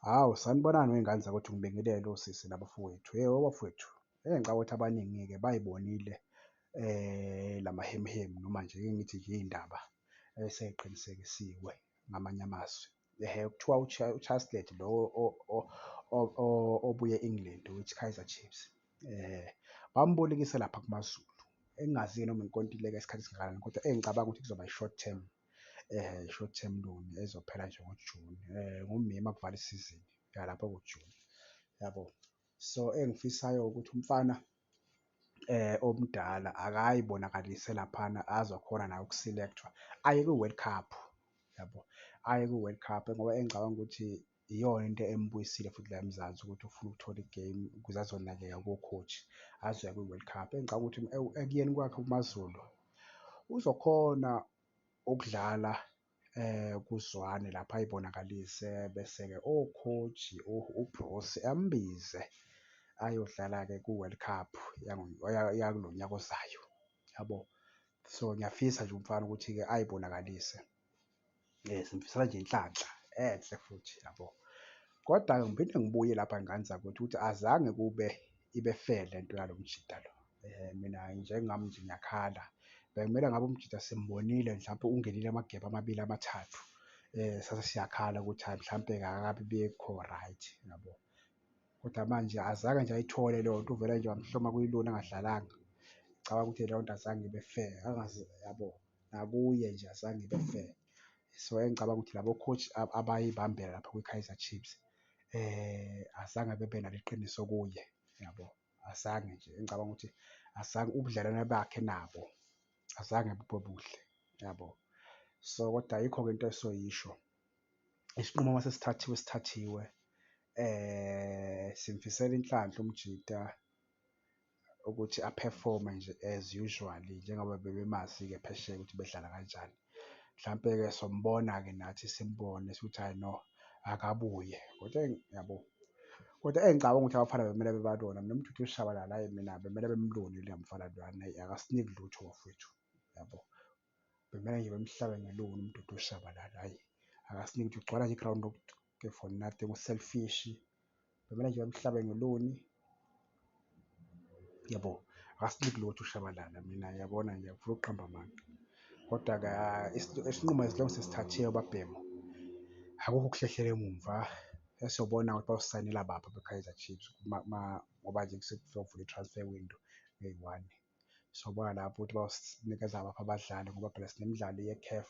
Hawu sanibonani wey'ngane zakwethu ngibingelele osisi nabafowethu. Hhe obafowethu, hhe ngicabanga ukuthi abaningi-ke bay'bonile la mahemuhemu noma nje ake ngithi nje iy'ndaba esey'qinisekisiwe ngamanye amazwi. Hhe kuthiwa uCaslet lo obuya e-England oweKaizer Chiefs bambolekise lapha kuMaZulu engingazi-ke noma inkontileka yesikhathi esingakanani kodwa engicabanga ukuthi kuzoba i-short term short term loan ezophela nje ngoJuni ngoMeyi uma kuvala isizini yalapho kuJuni yabo. So, engifisayo ukuthi umfana omdala akayibonakalise laphana azokhona naye uku-select-wa aye kwi-World Cup yabo, aye kwi-World Cup ngoba engicabanga ukuthi iyona into embuyisile futhi la eMzansi ukuthi ufuna ukuthola i-game ukuze azonakeka ko-coach azoya kwi-World Cup. Engicabanga ukuthi ekuyeni kwakhe kuMaZulu uzokhona ukudlala eh kuzwane lapha ayibonakalise bese-ke o-coach uBroos ambize ayodlala-ke ku-World Cup yakulo nyaka ozayo, yabo. So, ngiyafisa nje umfana ukuthi-ke ayibonakalise. Yes, ngifisela nje inhlanhla enhle futhi yabo. Kodwa ngiphinde ngibuye lapha ngane zakuthi ukuthi azange kube ibe fair le nto yalo mjita lo. Um mina njengami nje ngiyakhala, bekumele ngabe umjita simbonile mhlawumpe ungenile amagebe amabili amathathu, um sase siyakhala ukuthi hhayi mhlawumpe akakabi bikho right yabo. Kodwa manje azange nje ayithole leyo nto, uvele nje wamhloma kuyilona angadlalanga. Ngicabanga ukuthi leyo nto azange ibe fair, angazi yabo. nakuye nje azange ibe fair. So engicabanga ukuthi labo coach abayibambela lapho kwiKaizer Chiefs azange bebe nalo iqiniso kuye yabo. Azange nje engicabanga ukuthi azange ubudlelwane bakhe nabo azange bube buhle yabo. So kodwa ayikho-ke into esoyisho isinqumo uma sesithathiwe sithathiwe simfisela inhlanhla umjita ukuthi a-perform-e nje as usually njengoba bebemazi-ke phesheya ukuthi bedlala kanjani. Mhlampe-ke sombona-ke nathi simbone sikuthi hhayi no akabuye kodwa yabo. Kodwa engicabanga ukuthi abafana bekumele beba lona mina uMdudu uShabalala hhayi mina bekumele bemlone lo mfana lona hhayi akasiniki lutho bafwethu yabo. Bemele nje bemhlabe ngelungu umdudu ushabalala hayi akasiniki nje ugcwala nje iground ke for nothing uselfish bemele nje bemhlabe ngeluni yabo akasiniki lutho ushabalala mina yabona nje ngifuna ukuqamba amanga kodwa ka isinqumo esilongo sesithathiwe babhemu akukho ukuhlehlela emumva esiyobona ukuthi bawusayinela bapha be-Kaizer Chiefs ngoba nje sekufika ukuvula i-transfer window eyi-one. sobona lapho ukuthi bawunikeza baphi abadlali ngoba phela sinemidlalo ye-CAF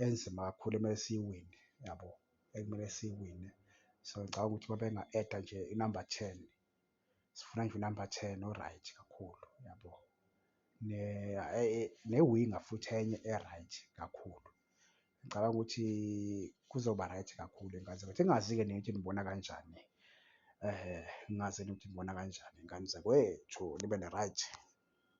enzima kakhulu ekumele siyiwine yabo, ekumele siyiwine. So ngicabanga ukuthi uma benga-add-a nje inamba ten, sifuna nje unamba ten o-right kakhulu yabo, newinga futhi enye e-right kakhulu Ngicabanga ukuthi kuzoba right kakhulu ingane zakwethu. Ingazi-ke nina ukuthi nibona kanjani ngingazi ukuthi nibona kanjani ingane zakwethu nibe ne-right.